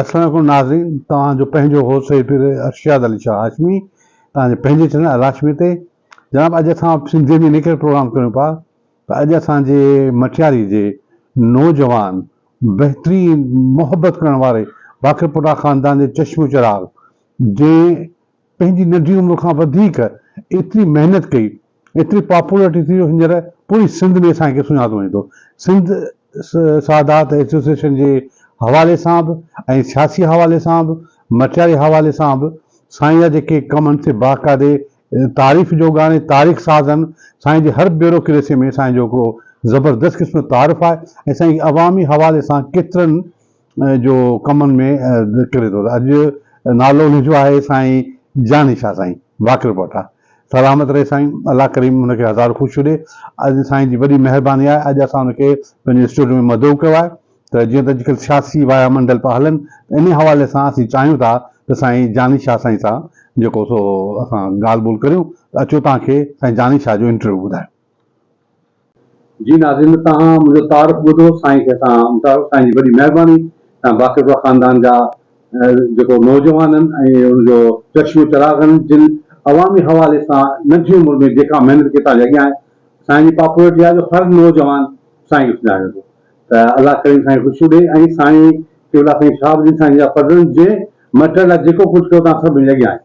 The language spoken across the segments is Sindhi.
السلام عليڪم ناظرين توهان جو پنهنجو هو سيد پير ارشاد علي شاهه هاشمي توهان جي پنهنجي چينل الهاشمي تي جناب اڄ اسان سنڌي ۾ نڪري پروگرام ڪريون پا ته اڄ اسان جي مٽياري جي نوجوان بهترين محبت ڪرڻ واري باقر پوٽا خاندان جي چشم چراغ جنهن پنهنجي ننڍي عمر کان وڌيڪ ايتري محنت ڪئي ايتري پاپولرٽي ٿي جو هينئر پوري سنڌ ۾ سائين کي سڃاتو وڃي ٿو سنڌ سادات ايسوسيئيشن جي حوالي سان به ۽ سياسي حوالي سان به مٽياري حوالي سان به سائين جا جيڪي ڪم آهن سي باقاعدي تعريف جوڳا آهن ۽ تاريخ ساز آهن سائين جي هر بيوروڪريسي ۾ سائين جو هڪڙو زبردست قسم جو تعارف آهي ۽ سائين عوامي حوالي سان ڪيترن جو ڪمن ۾ نڪري ٿو ته اڄ نالو ان جو آهي سائين جاني شاهه سائين باقر پوٽا سلامت رهي سائين الله ڪريم ان کي هزار خوشيون ڏي اڄ سائين جي وڏي مهرباني آهي اڄ اسان ان کي پنهنجي اسٽوڊيو ۾ مدعو ڪيو آهي ته جيئن ته اڄڪلهه سياسي وايا منڊل پيا هلن ته انهي حوالي سان اسين چاهيون ٿا ته سائين جاني شاهه سائين سان جيڪو سو اسان ڳالهه ٻولهه ڪريون ته اچو توهان کي سائين جاني شاهه جو انٽرويو ٻڌايون. جي ناظرين توهان منهنجو تعارف ٻڌو سائين کي اسان امٽارو سائين جي وڏي مهرباني سان باقرپور خاندان جا جيڪو نوجوانن ۽ ان جو چشمو چراغن جن عوامي حوالي سان ننڍي عمر ۾ جيڪا محنت ڪئي تانجي اڳيان آهي سائين جي پاپولرٽي آهي جو هر نوجوان سائين کي سڃاڻي ٿو ته الله ڪريم سائين خوشيون ڏي ۽ سائين قبلا سائين شهاب الدين سائين جا فرزند جنهن مٽ لاء جيڪو ڪجهه ڪيو توهان سڀ منهنجي اڳيان آهيو.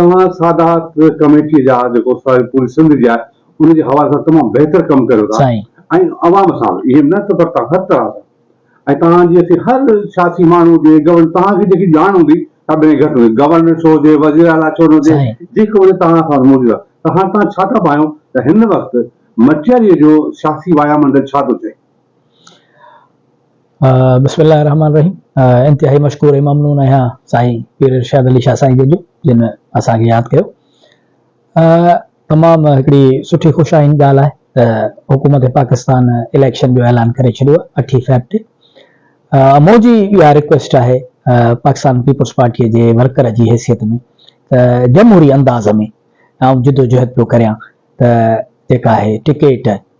توهان سادات ڪميٽي جا جيڪو ساري پوري سنڌ جي آهي ان جي حوالي سان تمام بهتر ڪم ڪريو ٿا ۽ عوام سان به ايم نه ته پر توهان هر طرح سان ۽ توهان جي اسين هر سياسي ماڻهو هجي گورنر توهان کي جيڪي ڄاڻ هوندي سا به گهٽ هوندي گورنر ڇو هجي وزير اعليٰ ڇو نه هجي جيڪو هجي توهان سان موجود آهي ته هاڻ توهان ڇا ٿا پايون ته هن وقت مٽياريء جو سياسي وايا منڊل ڇا ٿو چئي؟ بسم الله الرحمٰن الرحيم انتهائي مشڪور ۽ ممنون آهيان سائين پير ارشاد علي شاهه سائين جن جو جن اسان کي ياد ڪيو تمام هڪڙي سٺي خوش آئند ڳالهه آهي ته حڪومت پاڪستان اليڪشن جو اعلان ڪري ڇڏيو اٺي فيب تي موجي اها ريڪويسٽ آهي پاڪستان پيپلز پارٽي جي ورڪر جي حيثيت ۾ ته جمهوري انداز ۾ آئون جدوجهد پيو ڪريان ته جيڪا آهي ٽڪيٽ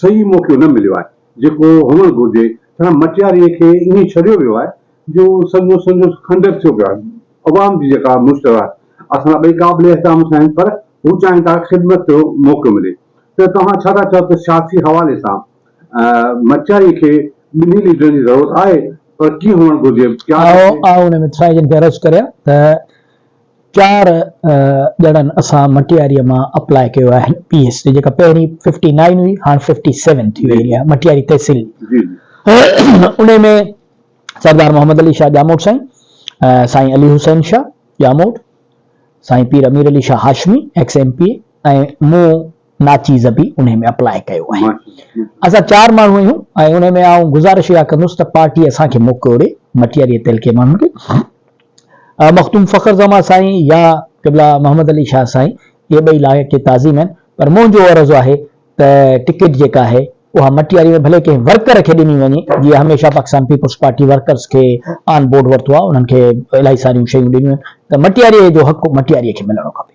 صحيح موقعو نه مليو آهي، جيڪو هئڻ گهرجي، ڇا مٽياريء کي ائين ڇڏيو ويو آهي جو سڄو سندس کنڊر ٿيو پيو آهي، عوام جي جيڪا مشتر آهي، اسان لاء ٻئي قابل احترام ٿيا آهن، پر هو چاهين ٿا خدمت جو موقعو ملي، ته توهان ڇا ٿا چئو ته سياسي حوالي سان مٽياريء کي ٻنهي ليڊرن جي ضرورت آهي، پر ڪيئن هئڻ گهرجي؟ آء ان مٿرائي جن کي عرض ڪريان ته چار ڄڻن اسان مٽياري مان اپلاء ڪيو آهي پي ايس جي جيڪا پهرين ففٽي نائين هئي هاڻ ففٽي سيون ٿي وئي آهي مٽياري تحصيل انهي ۾ سردار محمد علي شاهه ڄاموٽ سائين سائين علي حسين شاهه ڄاموٽ سائين Pir Amir Ali Shah Hashmi ex M P A ۽ مون ناچيز به انهي ۾ اپلاء ڪيو آهي. اسان چار ماڻهو آهيون ۽ انهي ۾ آئون گذارش اها ڪندس ته پارٽي اسان کي موقعو ڏي مٽياري تعلقي ماڻهن کي مخدوم فخر زمان سائين يا قبلا محمد علي شاهه سائين اهي ٻئي لائق تعظيم آهن پر منهنجو عرض آهي ته ٽڪيٽ جيڪا آهي اها مٽياري ۾ ڀلي ڪنهن ورڪر کي ڏني وڃي جيئن هميشه پاڪستان پيپلز پارٽي ورڪرز کي آن بورڊ ورتو آهي انهن کي الائي ساريون شيون ڏنيون آهن ته مٽياري جو حق مٽياري کي ملڻو کپي.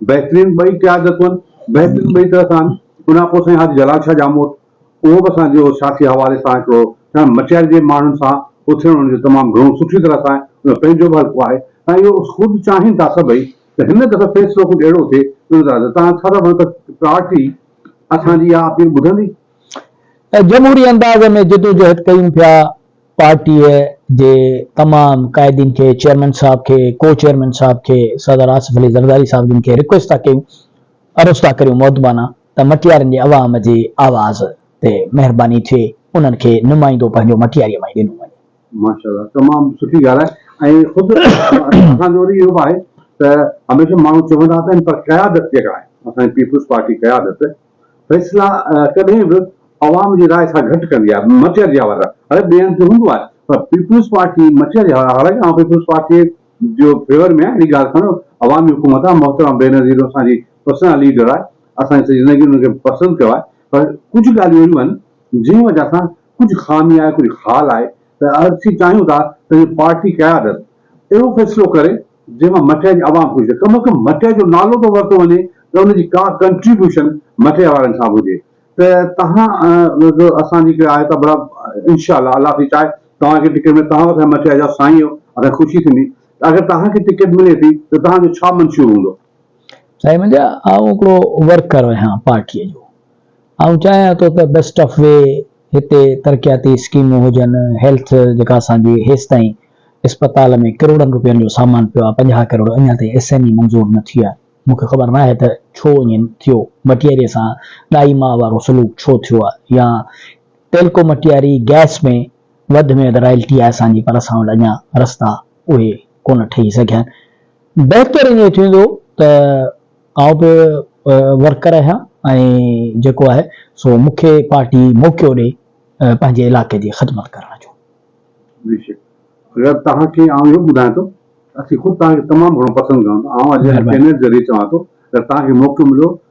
بهترين ٻئي قيادتون آهن، بهترين ٻئي طرح سان آهن. ان کان پوء سائين حاجي جلال شاهه ڄاموٽ، اهو به اسان جو سياسي حوالي سان هڪڙو سائين مٽياري جي ماڻهن سان اٿيڻ ان جو تمام گهڻو سٺي طرح سان آهي، ان جو پنهنجو به حلقو آهي ۽ اهو خود چاهين ٿا سڀئي ته هن دفعي فيصلو ڪجهه اهڙو ٿئي، ان طرح سان تان ڇا ٿا ڀڻو ته پارٽي اسان جي اها اپيل ٻڌندي؟ ۽ جمهوري انداز ۾ جدوجهد ڪيون پيا، پارٽيء جي تمام قائدين کي، چيئرمين صاحب کي، ڪو چيئرمين صاحب کي، صدر آصف علي زرداري صاحب جن کي رڪويسٽ ٿا ڪيون، عرض ٿا ڪريون مؤدبانه ته مٽيارين جي عوام جي آواز تي مهرباني ٿئي انهن کي نمائندو پنهنجو مٽياريء مان ئي ڏنو وڃي. ماشاء الله تمام سٺي ڳالهه آهي ۽ خود اسان جو وري اهو به آهي ته هميشه ماڻهو چوندا ته هن پر قيادت جيڪا آهي اسان جي پيپلز پارٽي قيادت، فيصلا ڪڏهن به عوام جي راء سان گهٽ ڪندي آهي، مٽياري جا ور هر ٻئي هنڌ تي هوندو آهي پر پيپلز پارٽي مٽياري آهي، حالانڪه آئون پيپلز پارٽي جي فيور ۾ آهيان، اهڙي ڳالهه ڪانه عوامي حڪومت آهي، محترمه بينظير اسان جي پرسنل ليڊر آهي، اسان جي سڄي زندگي ان کي پسند ڪيو آهي پر ڪجهه ڳالهيون اهڙيون آهن جنهن وجه سان ڪجهه خامي آهي، ڪجهه خال آهي ته اسين چاهيون ٿا ته پارٽي قيادت اهڙو فيصلو ڪري. جنهن مان مٺئي جي عوام خوش ٿئي، ڪم از ڪم مٺئي جو نالو ته ورتو وڃي ته ان جي ڪا ڪنٽريبيوشن مٺئي وارن کان به هجي ته تهان به اسان جي هڪڙي آهي ته ڀلا انشاء الله الله ٿي چاهي توهان کي ٽڪيٽ ملي توهان به اسان جي مٺئي جا سائين آهيو اسان کي خوشي ٿيندي ته اگر توهان کي ٽڪيٽ ملي ٿي ته توهان جو ڇا منشور هوندو. سائين منهنجا آئون هڪڙو ورڪر آهيان پارٽيء جو. آئون چاهيان ٿو ته بيسٽ آف وي هتي ترقياتي اسڪيمون هجن، هيلٿ جيڪا اسان جي هيستائين اسپتال ۾ ڪروڙن روپين جو سامان پيو آهي، پنجاهه ڪروڙ اڃا تائين ايس اين اي منظور نه ٿي آهي. مون کي خبر ناهي ته ڇو ائين ٿيو، مٽياريء سان ڏائي ماء وارو سلوڪ ڇو ٿيو آهي يا ٽيلڪو مٽياري گئس ۾ وڌ ۾ وڌ رائلٽي آهي اسان جي پر اسان وٽ اڃا رستا اهي ڪونه ٺهي سگهيا آهن. بهتر ائين ٿيندو ته آئون به ورڪر رهيان ۽ جيڪو آهي سو مون کي پارٽي موقعو ڏئي پنهنجي علائقي جي خدمت ڪرڻ جو. بيشڪ غير توهان کي آئون اهو ٻڌايان ٿو ته اسين خود توهان کي تمام گهڻو پسند ڪيون ٿا آئون اڄ هن چينل ذريعي چوان ٿو اگر توهان کي موقعو مليو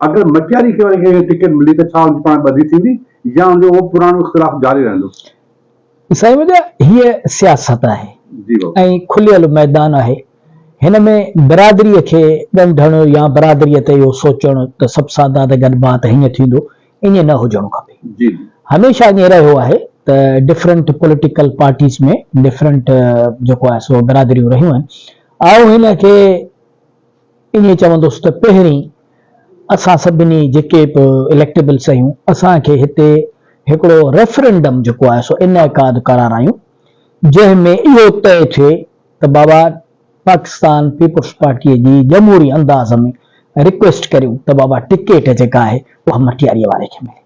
اگر مٽياري کي وري ڪنهن کي ٽڪيٽ ملي ته ڇا ان جي پاڻ ٻڌي ٿيندي يا ان جو اهو پراڻو اختلاف جاري رهندو؟ سائين منهنجا هيء سياست آهي ۽ کليل ميدان آهي. هن ۾ برادريء کي ڳنڍڻ يا برادريء تي اهو سوچڻ ته سڀ سادات گڏ ڀا ته هيئن ٿيندو، ائين نه هجڻو کپي. هميشه ائين رهيو آهي ته ڊفرنٽ پوليٽيڪل پارٽيز ۾ ڊفرنٽ جيڪو آهي سو برادريون رهيون آهن. آئون هن کي. ائين چوندس ته پهرين اسان سڀني جيڪي به اليڪٽيبلس آهيون اسان کي هتي هڪڙو ريفرنڊم جيڪو آهي سو انعقاد ڪرارايون جنهن ۾ اهو طئي ٿئي ته بابا پاڪستان پيپلز پارٽي جي جمهوري انداز ۾ رڪويسٽ ڪريون ته بابا ٽڪيٽ جيڪا آهي اها مٺياريء واري کي ملي.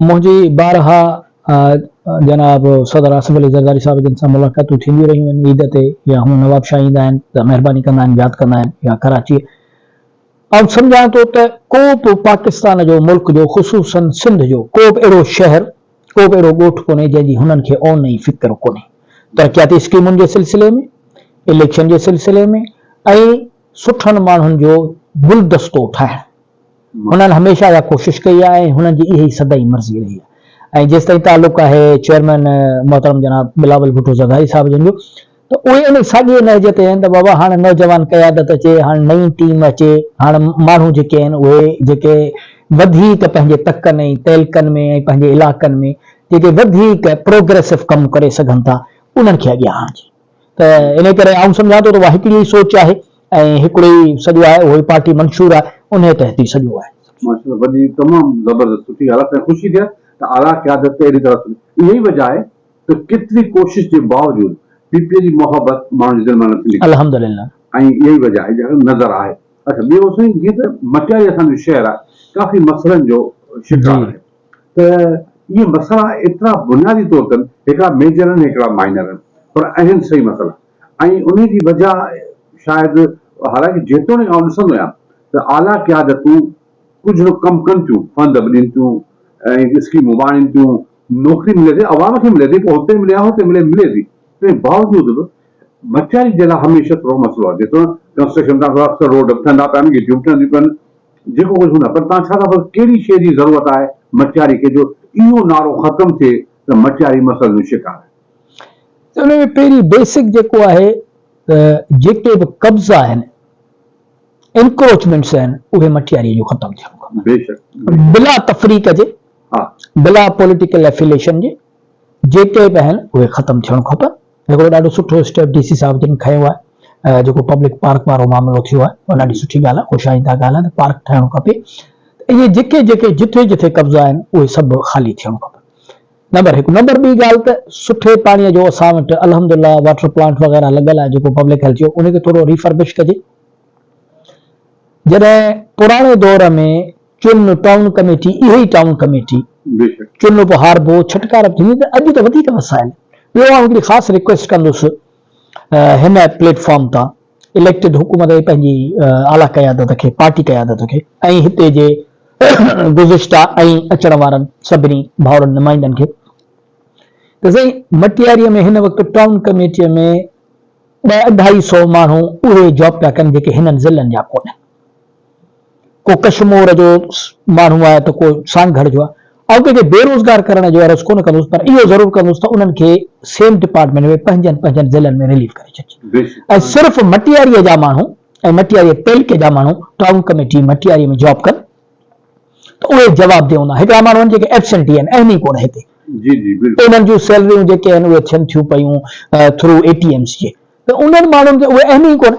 منهنجي بارها جناب صدر آصف علي زرداري صاحب جن سان ملاقاتون ٿينديون رهيون آهن عيد تي يا هونء نوابشاهه ايندا آهن ته مهرباني ڪندا آهن ياد ڪندا آهن يا ڪراچيء آئون سمجهان ٿو ته ڪو به پاڪستان جو ملڪ جو خصوصاً سنڌ جو ڪو به اهڙو شهر ڪو به اهڙو ڳوٺ ڪونهي جنهن جي هنن کي اون ۽ فڪر ڪونهي ترقياتي اسڪيمن جي سلسلي ۾ اليڪشن جي سلسلي ۾ ۽ سٺن ماڻهن جو گلدستو ٺاهڻ هنن هميشه اها ڪوشش ڪئي آهي ۽ هنن جي اها ئي سدائين مرضي رهي آهي ۽ جيستائين تعلق آهي چيئرمين محترم جناب بلاول ڀٽو زرداري صاحب جن جو ته اهي انهي ساڳئي نهج تي آهن ته بابا هاڻ نوجوان قيادت اچي هاڻ نئين ٽيم اچي هاڻ ماڻهو جيڪي آهن اهي جيڪي وڌيڪ پنهنجي تڪن ۽ تعلقن ۾ ۽ پنهنجي علاقن ۾ جيڪي وڌيڪ پروگريسو ڪم ڪري سگهن ٿا انهن کي اڳيان آڻجي. ته انهيء ڪري آئون سمجهان ٿو ته اها هڪڙي ئي سوچ آهي ۽ هڪڙو ئي سڄو آهي، اهو ئي پارٽي منشور آهي، انهيء تحت ئي سڄو آهي. ماشاء الله وڏي تمام زبردست سٺي ڳالهه آهي ۽ خوشي ٿئي ته اعليٰ قيادت تي اهڙي طرح سوچ اها ئي وجهه آهي ته ڪيتري ڪوشش جي باوجود پي پي جي محبت ماڻهن جي دل مان نٿي نڪري الحمدلله. ۽ اها ئي وجهه آهي جيڪا نظر آهي. اڇا ٻيو سائين جيئن ته مٽياري اسان جو شهر آهي ڪافي مسئلن جو شڪار آهي. ته اهي مسئلا ايترا بنيادي طور تن هڪڙا ميجر آهن هڪڙا مائنر آهن پر اهن صحيح مسئلا ۽ انهي جي وجه شايد حالانڪه جيتوڻيڪ آئون ڏسندو آهيان ته اعليٰ قيادتون ڪجهه به ڪم ڪن ٿيون فنڊ به ڏين ٿيون ۽ اسڪيمون به آڻين ٿيون نوڪري ملي ٿي عوام کي ملي ٿي پوء هتي ملي يا هتي ملي ملي ٿي تنهن باوجود به مٽياري جي لاء هميشه ٿورو مسئلو آهي جيتوڻيڪ ڪنسٽرڪشن ڪرڻ سان اڪثر روڊ به ٺهندا پيا آهن گهٽيون به ٺهنديون پيون آهن جيڪو ڪجهه هوندا پر توهان ڇا ٿا پسند ڪهڙي شيء جي ضرورت آهي مٽياري کي جو اهو نعرو ختم ٿئي ته مٽياري مسئلن جو شڪار آهي. ته ان ۾ پهرين بيسڪ جيڪو آهي ته جيڪي به قبضا آهن انڪروچمينٽس آهن اهي مٽياري جون ختم ٿيڻ کپن. بيشڪ بيشڪ. بلا تفريق جي ها. بلا پوليٽيڪل افيليشن جي جيڪي به آهن اهي ختم ٿيڻ کپن هڪڙو ڏاڍو سٺو اسٽيپ ڊي سي صاحب جن کنيو آهي جيڪو پبلڪ پارڪ وارو معاملو ٿيو آهي اها ڏاڍي سٺي ڳالهه آهي خوش آئنده ڳالهه آهي ته پارڪ ٺهڻو کپي ته اهي جيڪي جيڪي جٿي جٿي قبضا آهن اهي سڀ خالي ٿيڻو کپن نمبر هڪ نمبر ٻي ڳالهه ته سٺي پاڻي جو اسان وٽ الحمد لله واٽر پلانٽ وغيره لڳل آهي جيڪو پبلڪ هيلٿ جو ان کي ٿورو ريفربش ڪجي جڏهن پراڻي دور ۾ چن ٽائون ڪميٽي اهي ئي ٽائون ڪميٽي چن اپ هاربو ڇٽڪار به ٿيندي ته اڄ ته وڌيڪ وسائل ٻيو آئون هڪڙي خاص ريڪويسٽ ڪندس هن پليٽ فارم تان اليڪٽيڊ حڪومت ۽ پنهنجي اعليٰ قيادت کي پارٽي قيادت کي ۽ هتي جي گذشته ۽ اچڻ وارن سڀني ڀائرن نمائندن کي ته سائين مٽياري ۾ هن وقت ٽائون ڪميٽي ۾ ٻه اڍائي سو ماڻهو اهي جاب پيا ڪن جيڪي هنن ضلعن جا ڪونهن ڪو ڪشمور جو ماڻهو آهي ته ڪو سانگهڙ جو آهي. آئون ڪنهن کي بي روزگار ڪرڻ جو عرض ڪونه ڪندس پر اهو ضرور ڪندس ته انهن کي سيم ڊپارٽمينٽ ۾ پنهنجن پنهنجن ضلعن ۾ رليف ڪري ڇڏجي ۽ صرف مٽياري جا ماڻهو ۽ مٽياري تعلقي جا ماڻهو ٽائون ڪميٽي مٽياري ۾ جاب ڪن ته اهي جوابده هوندا. هڪڙا ماڻهو آهن جيڪي ائبسينٽي آهن اهم ئي ڪونه هتي. انهن جون سيلريون جيڪي آهن اهي ٿين ٿيون پيون ٿرو اي ٽي ايمز جي ته انهن ماڻهن کي اهي اهم ئي ڪونه.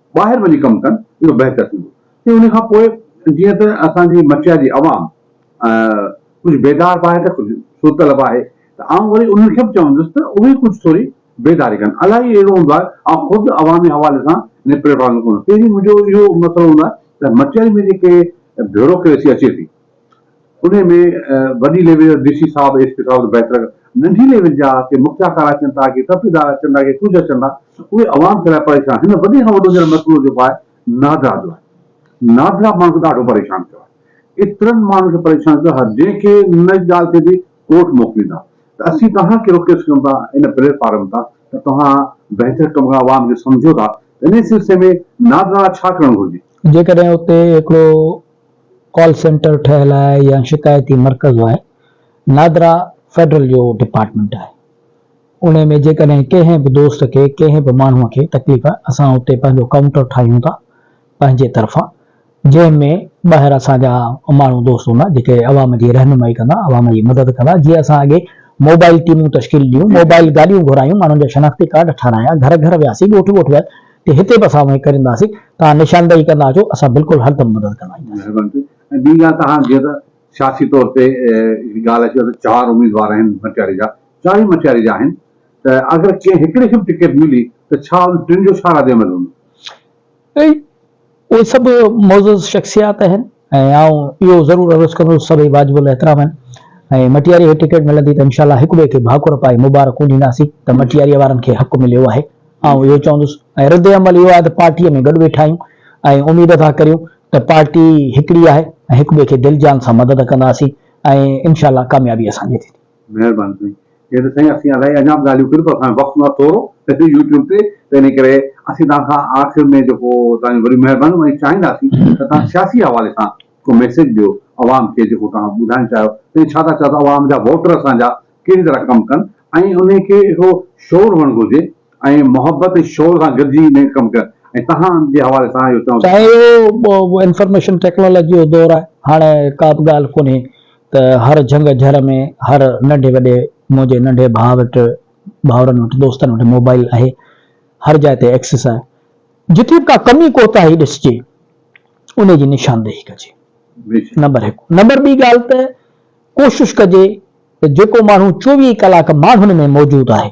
ٻاهر وڃي ڪم ڪن اهو بهتر ٿيندو ۽ ان کان پوء جيئن ته اسان جي مچيا جي عوام ڪجهه بيدار به آهي ته ڪجهه سوتل به آهي ته آئون وري انهن کي به چوندس ته اهي ڪجهه ٿوري بيداري ڪن الائي اهڙو هوندو آهي آئون خود عوامي حوالي سان ان پليٽ فارم تي ڪونه پهرين منهنجو اهو مسئلو هوندو آهي ته مچيا ۾ جيڪي بيوروڪريسي اچي ٿي انهي ۾ وڏي ليول جا ڊي سي صاحب ايس پي صاحب ته بهتر ڪن ننڍي ليول جا ڪي مکيا ڪارا اچن ٿا ڪي ڪرپيدار اچن ٿا ڪي ڪجهه اچن ٿا اهي عوام کي لاء پريشان هن وڏي کان وڏو جيڪو مسئلو جيڪو آهي نادرا جو آهي نادرا ماڻهن کي ڏاڍو پريشان ڪيو آهي ايترن ماڻهن کي پريشان ڪيو آهي جنهن کي ان ڳالهه تي به ڪورٽ موڪليندا ته اسين توهان کي رڪويسٽ ڪيون ٿا ان پليٽ فارم تان ته توهان بهتر ڪم ڪرڻ عوام کي سمجهو ٿا ته انهي سلسلي ۾ نادرا لاء ڇا ڪرڻ گهرجي. جيڪڏهن اتي هڪڙو ڪال سينٽر ٺهيل آهي يا شڪايتي مرڪز آهي. نادرا فيڊرل جو ڊپارٽمينٽ آهي. انهي ۾ جيڪڏهن ڪنهن به دوست کي ڪنهن به ماڻهو کي تڪليف آهي اسان اتي پنهنجو ڪائونٽر ٺاهيون ٿا پنهنجي طرفان جنهن ۾ ٻاهر اسان جا ماڻهو دوست هوندا جيڪي عوام جي رهنمائي ڪندا عوام جي مدد ڪندا جيئن اسان اڳي موبائل ٽيمون تشڪيل ڏنيون موبائل گاڏيون گهرايون ماڻهن جا شناختي ڪارڊ ٺارايا گهر گهر وياسي ڳوٺ ڳوٺ وياسي تي هتي به اسان اوهين ڪرينداسين توهان نشاندهي ڪندا اچو اسان بلڪل هردم مدد ڪندا اينداسين. مهرباني ٿي ۽ ٻي ڳالهه ته هاڻ جيئن ته سياسي طور تي هڪڙي ڳالهه اچي وئي ته چار اميدوار آهن مٽياري جا چار ئي مٽياري جا آهن ته اگر ڪنهن هڪڙي کي به ٽڪيٽ ملي ته ڇا ان ٽن جو ڇا رد عمل هوندو؟ اهي سڀ معزز شخصيات آهن ۽ آئون اهو ضرور عرض ڪندس سڀئي واجب الاحترام آهن ۽ مٽياريء کي ٽڪيٽ ملندي ته انشاء الله هڪ ٻئي کي ڀاڪر پائي مبارڪون ڏينداسين ته مٽياريء وارن کي حق مليو آهي آئون اهو چوندس ۽ رد عمل اهو آهي ته پارٽيء ۾ گڏ ويٺا آهيون ۽ اميد ٿا ڪريون ته پارٽي هڪڙي آهي ۽ هڪ ٻئي کي دل جان سان مدد ڪنداسين ۽ انشاء الله ڪاميابي اسان جي ٿيندي. مهرباني سائين جي ته سائين اسين الائي اڃا به ڳالهيون ڪريون پر اسان وقت نه ٿورو پهرين يوٽيوب تي ته انهي ڪري اسين توهان کان آخر ۾ جيڪو توهان جون وڏيون مهربانيون ۽ چاهينداسين ته توهان سياسي حوالي سان ڪو ميسيج ڏيو عوام کي جيڪو توهان ٻڌائڻ چاهيو سائين ڇا ٿا چاهيو ته عوام جا ووٽر اسان جا ڪهڙي طرح ڪم ڪن ۽ انهي کي اهو شعور هئڻ گهرجي ۽ محبت ۽ شعور سان گڏجي انهي ڪم ڪن ۽ توهان جي حوالي سان اهو چوڻ سائين اهو انفارميشن ٽيڪنالاجي جو دور آهي هاڻي ڪا به ڳالهه ڪونهي ته هر جهنگ جهر ۾ هر ننڍي وڏي منهنجي ننڍي ڀاء وٽ ڀائرن وٽ دوستن وٽ موبائيل آهي هر جاء تي ايڪسس آهي جتي به ڪا ڪمي ڪوتاهي ڏسجي انهي جي نشاندهي ڪجي نمبر هڪ نمبر ٻي ڳالهه ته ڪوشش ڪجي ته جيڪو ماڻهو چوويهه ڪلاڪ ماڻهن ۾ موجود آهي.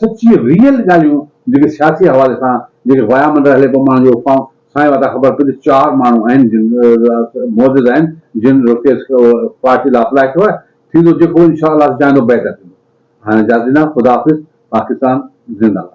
سچي ريئل ڳالهيون جيڪي سياسي حوالي سان جيڪي وايا منڊر هلي پيو ماڻهن جو افواهون سائين واتان خبر پئي ته چار ماڻهو آهن جن معزز آهن جن رکيس پارٽي لا اپلائي ڪيو آهي ٿيندو جيڪو انشاء الله چاهيندو بهتر ٿيندو هاڻي اجازت ڏيندا خدا حافظ پاڪستان زنده باد.